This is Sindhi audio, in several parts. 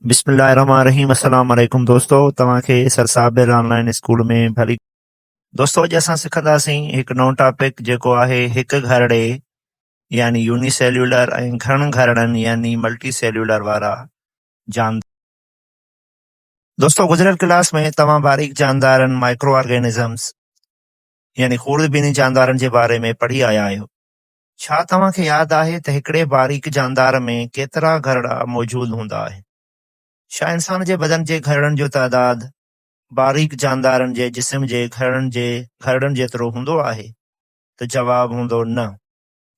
بسم الله الرحمن الرحيم السلام عليڪم دوستو توهان کي سر صاحب آن لائن اسڪول ۾ ڀلي دوستو اڄ اسان سکنداسين هڪ نئون ٽاپڪ جيڪو آهي هڪ گهرڙي يعني يوني سيلولر ۽ گهڻن گهرڙن يعني ملٽي سيلولر وارا جاندار دوستو گذريل ڪلاس ۾ توهان باريڪ جاندارن مائڪرو آرگينزمز يعني خوردبيني جاندارن جي باري ۾ پڙهي آيا آهيو. ڇا توهان کي ياد آهي ته هڪڙي باريڪ جاندار ۾ ڪيترا گهرڙا موجود هوندا آهن؟ ڇا انسان جي بدن جي گهرڙن جو تعداد باريڪ جاندارن جي جسم جي گهرڙن جي گهرڙن جيترو هوندو آهي؟ ته جواب هوندو نه.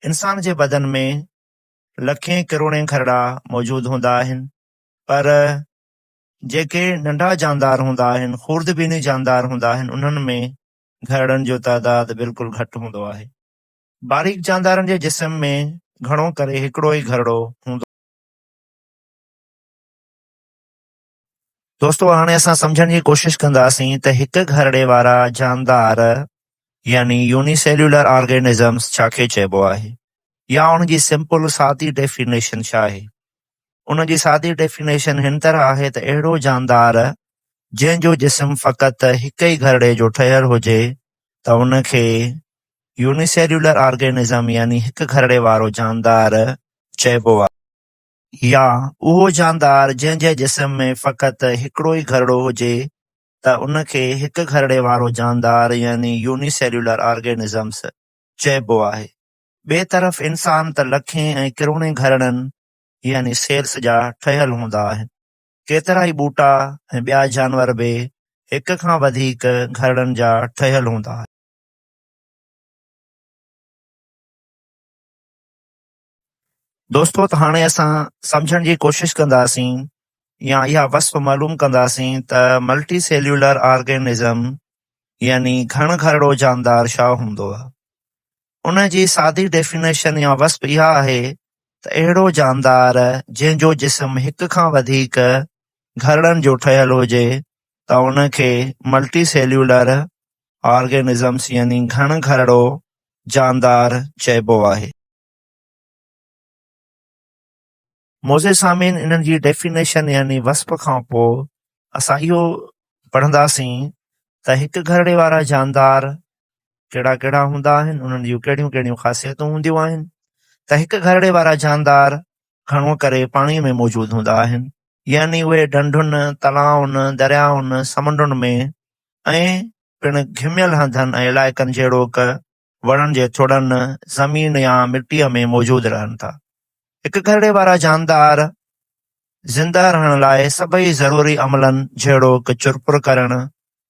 انسان جي بدن ۾ لکين ڪروڙين گهرڙا موجود هوندا آهن پر جيڪي ننڍا جاندار هوندا آهن، خوردبيني جاندار هوندا آهن، انهن ۾ گهرڙن جو تعداد بلڪل گهٽ هوندو آهي. باريڪ جاندارن جي جسم ۾ گهڻو ڪري هڪڙو ئي گهرڙو هوندو آهي. دوستو هاڻي اسان سمجهڻ جي ڪوشش ڪنداسين ته هڪ گهرڙي وارا جاندار يعني يوني سيلولر آرگينزمز ڇا کي چئبو آهي يا ان جي سمپل سادي ڊيفينيشن ڇا آهي. ان جي سادي ڊيفينيشن هن طرح آهي ته اهڙو جاندار جنهن جو جسم فقط هڪ ئي گهرڙي جو ٺهيل هجي ته ان کي يونيسيليولر آرگينزم يعني هڪ گهرڙي وارو جاندار چئبو آهي. يا اهو جاندار جنهن جي جسم ۾ فقط هڪڙو ئي گهرڙو هجي ته ان کي هڪ گهرڙي وارو جاندار يعني يونيسيليولر آرگينزمس چئبو آهي. ٻئي طرف انسان ته لکين ۽ ڪروڙين گهرڙن يعني سيلز جا ٺهيل هوندا آهن. ڪيترائي ٻوٽا ۽ ٻيا جانور به هڪ کان وڌيڪ گهرڙن جا ٺهيل هوندا آهن. دوستو ته هاڻي اسان سمجهڻ جي ڪوشش ڪنداسين يا اها وصف معلوم ڪنداسين ته ملٽي سيليولر آرگينزم يعني گهڻ گهرڙو جاندار ڇا هوندو؟ ان جي سادي ڊيفينيشن يا وصف اها آهي ته اهڙو جاندار جنهن جو جسم هڪ کان وڌيڪ گهرڙن جو ٺهيل هجي ته ان کي ملٽي سيليولر آرگينزمس يعني گهڻ گهرڙو جاندار چئبو آهي. معزز سامعين انهن جي ڊيفينيشن يعني وصف کان پوء اسان اهو پڙهنداسين ته هڪ گهرڙي وارا جاندار ڪهڙا ڪهڙا هوندا آهن انهن جون ڪهڙيون ڪهڙيون خاصيتون هونديون آهن ته هڪ گهرڙي وارا جاندار گهڻو ڪري پاڻي ۾ موجود هوندا آهن يعني اهي ڍنڍن، تلائن، دريائن، سمنڊن ۾ ۽ پڻ گهميل هنڌن ۽ علائقن جهڙوڪ، وڻن جي ٿڙن، زمين يا مٽيء ۾ موجود رهن ٿا. هڪ ڪرڙي وارا جاندار زنده رهڻ لاء سڀئي ضروري عملن جهڙوڪ چرپر ڪرڻ،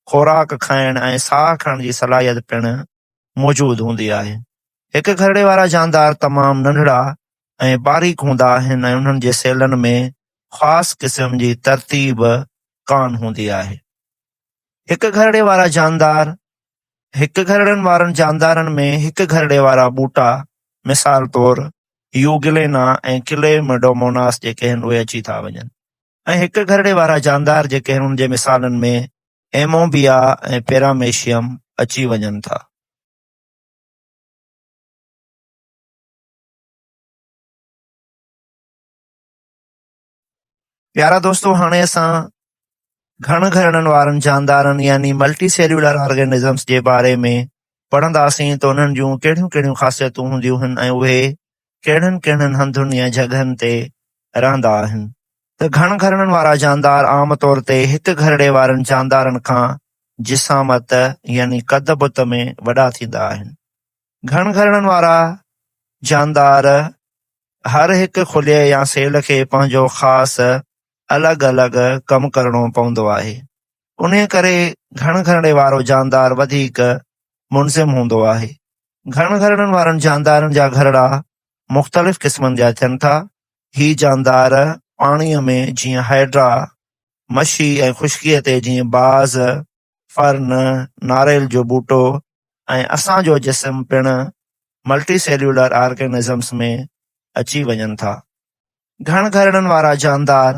خوراڪ کائڻ ۽ ساهه کڻڻ جي صلاحيت پڻ موجود هوندي آهي. هڪ ڪرڙي وارا جاندار تمام ننڍڙا ۽ باريڪ هوندا آهن ۽ انهن جي سيلن ۾ خاص قسم جي ترتيب ڪانه هوندي آهي. هڪ ڪرڙي وارا جاندار هڪ گهرڙن وارن جاندارن ۾ هڪ گهرڙي وارا ٻوٽا مثال طور يوگلينا ۽ ڪلي مڊوموناس جيڪي هن اهي اچي ٿا وڃن ۽ هڪ گهرڙي وارا جاندار جيڪي هن ان جي مثالن ۾ ايموبيا ۽ پيراميشيم اچي وڃن ٿا. پيارا دوستو هاڻي اسان گهڻ گهرڙن وارن جاندارن يعني ملٽي سيلولر آرگنزمس جي باري ۾ پڙهنداسين ته انهن جون ڪهڙيون ڪهڙيون خاصيتون هونديون هن ۽ اهي ڪهڙن ڪهڙن هنڌن يا جڳهن تي رهندا آهن ته گهڻ گهرڙن وارا جاندار عام طور تي هڪ گهرڙي وارن جاندارن کان جسامت يعني قد بت ۾ وڏا ٿيندا آهن گهڻ گهرڻن وارا جاندار هر هڪ خليي يا سيل کي پنهنجو خاص الڳ الڳ ڪم ڪرڻو پوندو آهي. انهيء ڪري گهڻ گهرڻي وارو جاندار وڌيڪ منظم هوندو آهي. گهڻ گهرڻن وارن جاندارن جا گهرڙا مختلف قسمن جا ٿين ٿا. هي جاندار پاڻيء ۾ جيئن هائيڊرا، مڇي ۽ خشڪيء تي جيئن باز، فرن، ناريل جو ٻوٽو، ۽ اسان جو جسم پڻ ملٽي سيليولر آرگنزمز ۾ اچي وڃن ٿا. گهڻ گهرڙن وارا جاندار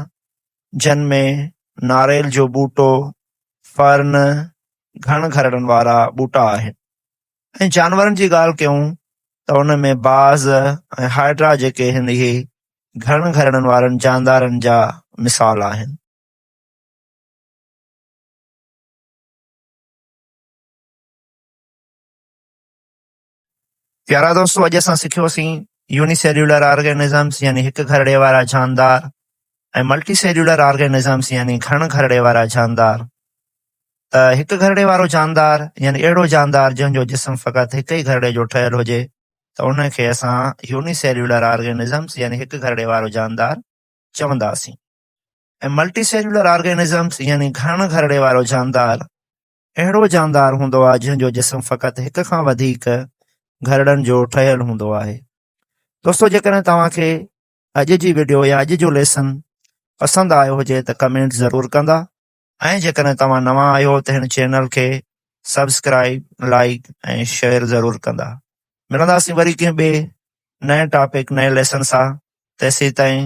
جن ۾ ناريل جو ٻوٽو، Fern، گهڻ گهرڙن وارا ٻوٽا آهن ۽ جانورن جي ڳالهه ڪيون ته ان ۾ باز ۽ هائڊرا جيڪي هن اهي گهڻ گهرڙن وارن جاندارن جا مثال آهن. پيارا دوستو اڄ اسان سکيو سين يوني سيلولر آرگينزمز يعني هڪ گهرڙي وارا جاندار ۽ ملٽي سيلولر آرگينزمز يعني گهڻ گهرڙي وارا جاندار ته هڪ گهرڙي وارو جاندار يعني اهڙو جاندار جنهن جو جسم فقط هڪ ئي گهرڙي جو ٺهيل هجي ته ان کي اسان يوني سيلولر آرگينزمز يعني هڪ گهرڙي وارو جاندار چونداسين ۽ ملٽي سيلولر آرگينزمز يعني گهڻ گهرڙي وارو جاندار اهڙو جاندار هوندو آهي جنهن جو جسم فقط هڪ کان وڌيڪ گهرڙن جو ٺهيل هوندو آهي دوستو جيڪڏهن توهان کي اڄ جي ويڊيو يا اڄ جو ليسن پسند آيو هجي ته ڪمينٽ ضرور ڪندا ۽ جيڪڏهن توهان نوان آهيو ته هن چينل کي سبسڪرائب لائڪ ۽ شيئر ضرور ڪندا ملنداسين وري ڪنهن ٻئي نئين ٽاپڪ نئين ليسن سان تيسيتائين